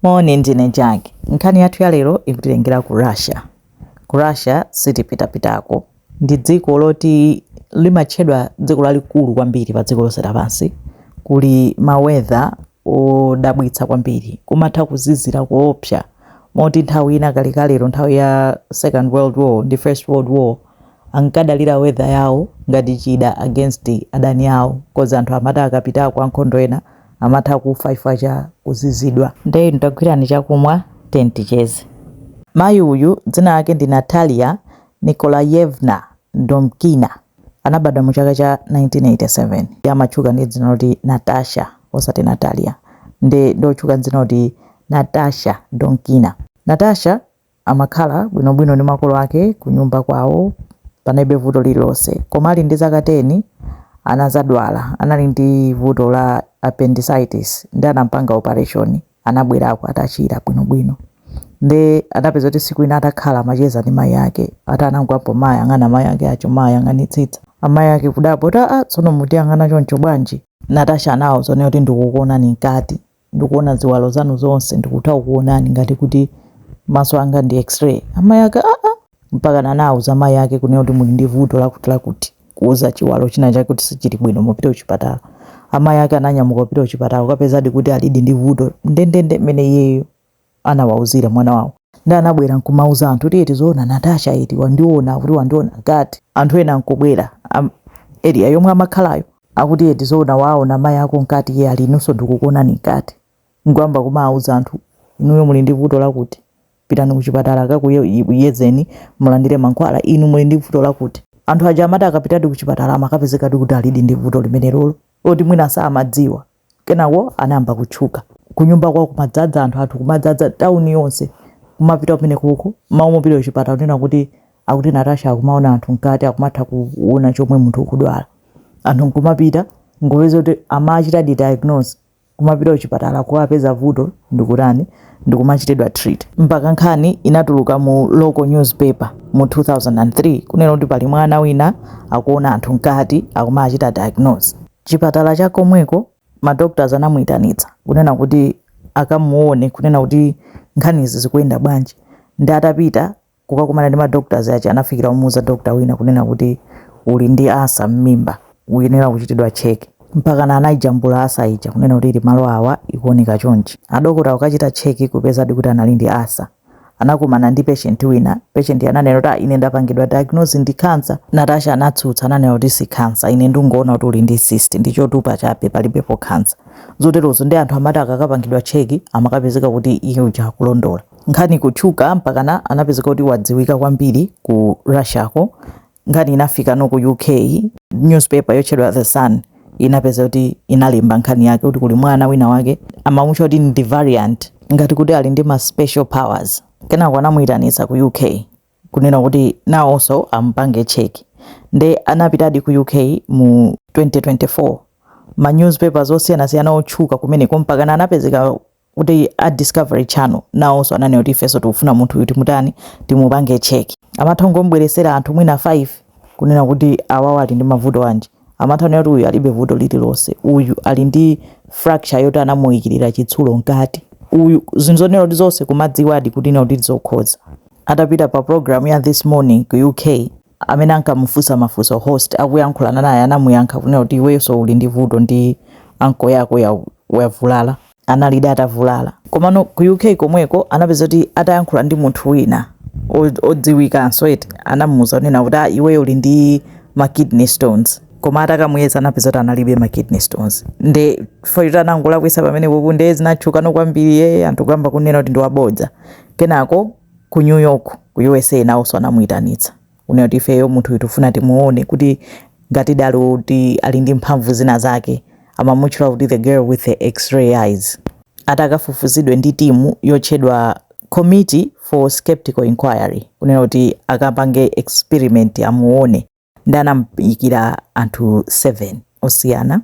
Moni, ndine Jack. Nkhani yathu ya lero ikutitengera ku Russia. Ku Russia sitipitapitako. Ndi dziko loti limatchedwa dziko lalikulu kwambiri pa dziko lonse lapansi. Kuli ma weather odabwitsa kwambiri. Kumatha kuzizira koopsa moti nthawi ina kalekalelo, nthawi ya Second World War ndi First World War, ankadalira weather yawo ngati chida against adani awo coz anthu amati akapitako ankhondo ena amatha kufa chifukwa cha kuzizidwa. Nde inu tagwirani chakumwa tiyeni ticheze. Mayi uyu dzina lake ndi Natalia Nikolayevna Domkina. Anabadwa mu chaka cha 1987. Iye amatchuka ndi dzina loti Natasha osati Natalia. Nde ndi otchuka ndi dzina loti Natasha Domkina. Natasha Amakhala bwinobwino ndi makolo ake kunyumba kwawo panalibe vuto lililonse koma ali ndi zaka 10 anazadwala anali ndi vuto la appendicitis nde anampanga operation anabwerako atachira bwinobwino nde anapeza kuti siku ina atakhala amacheza ndi mayi ake ati anangoyamba kumayang'ana mayi ake aja kumayang'anitsitsa amayi ake kudabwa kuti aa tsono ukutiyang'ana choncho bwanji Natasha anawauza kuti ndikukuonani mkati ndikuona ziwalo zanu zonse ndikutha kukuonani ngati kuti maso anga ndi x-ray amayi ake aa mpakana anauza mayi ake kunena kuti muli ndi vuto lakuti lakuti kuuza chiwalo china chake kuti sichili bwino mupite kuchipatala amayi ake ananyamuka kupita kuchipatala kukapezadi kuti alidi ndi vuto ndendende mmene iyeyo anawauzira mwana wawo nde anabwera nkumauza anthu kuti eti zoona Natasha eti wandiona kuti wandiona nkati anthu ena nkubwera am- area yomwe amakhalayo akuti eti zoona waona mayi ako nkati iye ali inunso ndikukuonani nkati nkuyamba kumauza anthu inuyo muli ndi vuto lakuti pitani kuchipatala akakuyezeni mulandire mankhwala inu muli ndi vuto lakuti anthu aja amati akapitadi kuchipatala amakapezekadi kuti alidi ndi vuto limenelolo loti mwina samadziwa Kenako anayamba kutchuka. Kunyumba kwawo kumadzadza anthu, anthu kumadzadza tauni yonse. Kumapita kumenekuko, mmalo mopita kuchipatala kunena kuti akuti Natasha akumaona anthu mkati akumatha kuona chomwe munthu ukudwala. Anthu nkumapita nkupeza kuti amawachitadi diagnose kumapita kuchipatala kukapeza vuto ndikutani ndikumachitidwa treat. Mpaka nkhani inatuluka mu local newspaper mu 2003 kunena kuti pali mwana wina akuona anthu mkati akumawachita diagnose. chipatala cha komweko ma doctors anamuitanitsa kunena kuti akamuone kunena kuti nkhanizi zikuyenda bwanji nde atapita kukakumana ndi ma doctors aja anafikira kumuuza doctor wina kunena kuti uli ndi ulcer m'mimba uyenera kuchitidwa check mpakana anayijambula ulcer ija kunena kuti ili malo awa ikuoneka chonchi adokota kukachita check kupezadi kuti anali ndi ulcer anakomana ndi patient wina patient ananena kuti "Ah, ine ndapangidwa diagnose ndi cancer natasha anatsutsa ananena kuti si cancer ine ndingoona kuti uli ndi cyst ndi chotupa chabe palibepo cancer zoterozo ndi anthu amati akakapangidwa cheki amakapezeka kuti iye uja akulondola nkhani kutchuka mpaka anapezeka kuti wadziwika kwambiri ku russiako nkhani inafikano ku uk newspaper yotchedwa the sun inapeza kuti inalemba nkhani yake kuti kuli mwana wina wake amamutcha kuti ndi variant ngati kuti ali ndi ma special powers kenako anamuyitanitsa ku uk kunena kuti nawonso amupange check nde anapitadi ku uk mu 2024 ma newspapers osiyanasiyana otchuka kumeneko mpakana anapezeka kuti a discovery channel nawonso ananena kuti ifenso tikufuna munthu uyu timutani timupange check amatha kungombweresera anthu mwina 5 kunena kuti awawa ali ndi mavuto anji amatha kunena kuti uyu alibe vuto lililonse uyu ali ndi fracture yoti anamuyikirira chitsulo mkati uyu zinthu zonena kuti zonse kumadziwadi kunena kuti zokhoza atapita pa program ya this morning ku uk amene ankamufunsa mafunso host akuyankhulana naye anamuyankha kunena kuti iwenso uli ndi vuto ndi ankle yako yavulala analidi atavulala komano ku uk komweko anapeza kuti atayankhula ndi munthu wina odziwikanso eti anamuuza kunena kuti ah, iweyo uli ndi ma kidney stones koma atakamuyeza anapeza kuti analibe ma kidney stones nde chifukwa choti anangolakwisa pamenepo ku uk nde zinatchukano kwambiri anthu kuyamba kunena kuti ndiwabodza kenako ku New York ku USA nawonso anamuyitanitsa kunena kuti ifeyo munthu uyu tifuna timuone kuti ngatidi ali kuti ali ndi mphamvu zina zake amamutchula kuti the girl with the x-ray eyes atakafufuzidwe ndi timu yotchedwa Committee for Skeptical Inquiry kunena kuti akapange experiment amuone ndi anamuyikira anthu 7 osiyana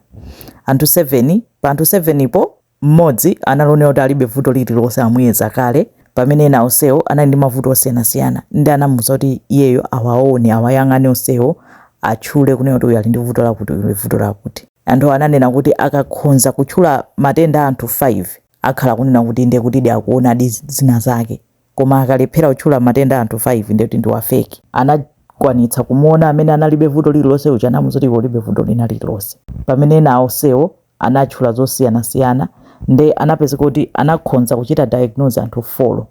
anthu 7 pa anthu 7 po mmodzi anali onena kuti alibe vuto lililonse amuyeza kale pamene ena onsewo anali ndi mavuto osiyanasiyana ndi anamuuza kuti iyeyo awaone awayang'ane onsewo atchule kunena kuti uyu ali ndi vuto lakuti uyu vuto lakuti anthu ananena kuti akakhonza kutchula matenda a anthu 5 akhala kunena kuti ndiye kuti akuonadi zina zake koma akalephera kutchula matenda a anthu 5 ndiye kuti ndi wa fake. Anakwanitsa kumuona amene analibe vuto lililonse uja anamuuza kuti iwe ulibe vuto lina lililonse. Pamene ena onsewo anatchula zosiyanasiyana nde anapezeka kuti anakhonza kuchita diagnose anthu 4.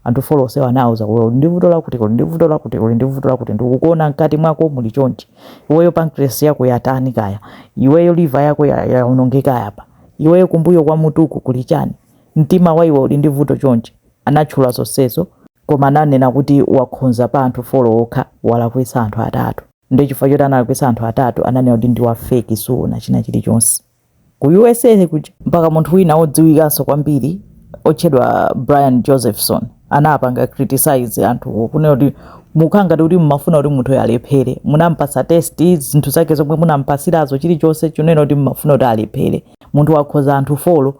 Anthu 4 onsewo anawauza kuti uli ndi vuto lakuti, uli ndi vuto lakuti, uli ndi vuto lakuti, ndikukuona mkati mwako muli chonchi, iweyo pancreas yako yatani kaya, iweyo liver yako yaonongeka apa, iweyo kumbuyo kwa mutuku kuli chani, mtima wa iwe uli ndi vuto chonchi. Anatchula zonsezo koma ananena kuti wakhoza pa anthu folo okha walakwisa anthu atatu nde chifukwa choti analakwisa anthu atatu ananena kuti ndiwa fake saona china chili chonse ku usa kuja mpaka munthu wina odziwikanso kwambiri otchedwa Brian Josephson anapanga criticise anthuwo kunena kuti mukukhala ngati kuti mmafuna kuti munthuyo alephere munampasa test zinthu zake zomwe munampasilazo chili chonse chonena kuti mmafuna kuti alephere munthu wakhoza anthu folo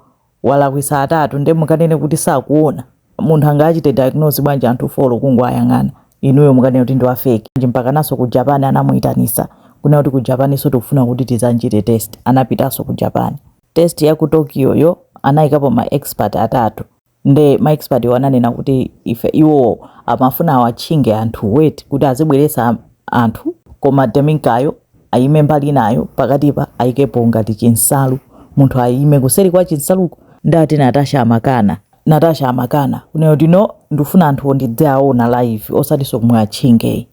walakwisa atatu nde mukanene kuti sakuona? munthu angachite diagnose bwanji anthu folo kungowayang'ana? inuyo mukanene kuti ndiwa fake bwanji mpakanaso ku japan anamuitanisa kunena kuti ku japaniso tikufuna kuti tizamchite test anapitaso ku japan. test ya ku tokyo yo anaikapo ma expert atatu nde ma expert wo ananena kuti ife iwowo amafuna awatchinge anthu weti kuti azibwelesa anthu koma deminkayo ayime mbali inayo pakatipa ayikepo ngati chinsalu munthu ayime kuseri kwa chinsaluko ndati natasha amakana natasha amakana kunena kuti no ndifuna anthu ndidziwaona live osatiso kumawatchingayi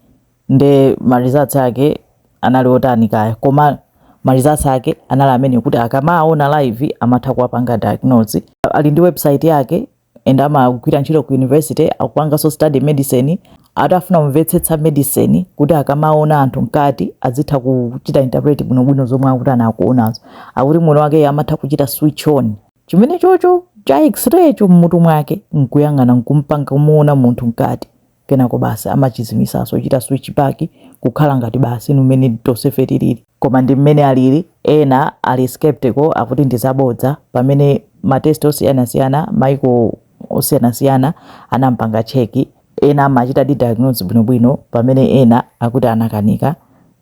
nde ma results ake anali otani kaya koma ma results ake anali amene kuti akamawaona live amatha kuwapanga diagnose ali ndi website yake and amagwira ntchito ku university akupanganso study medicine atafuna kumvetsetsa medicine kuti akamaona anthu mkati azitha kuchita interpret bwinobwino zomwe akuti akuonazo akuti mwini wake amatha kuchita switch on chimene chocho cha x-ray cho mmutu mwake nkuyang'ana nkumpanga kumuona munthu mkati kenako basi amachizimisaso kuchita switch back kukhala ngati basi mmene tosefe tilili koma ndimmene alili ena ali skeptical akuti ndizabodza pamene ma test osiyanasiyana maiko osiyanasiyana anampanga check ena amachitadi diagnose bwinobwino pamene ena akuti anakanika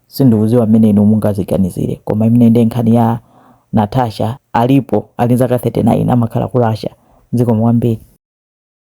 sindikuziwa mmene inu mungaziganizile koma imene nde nkhani ya Natasha alipo ali nzaka 39 amakhala ku Russia zikomo kwambiri.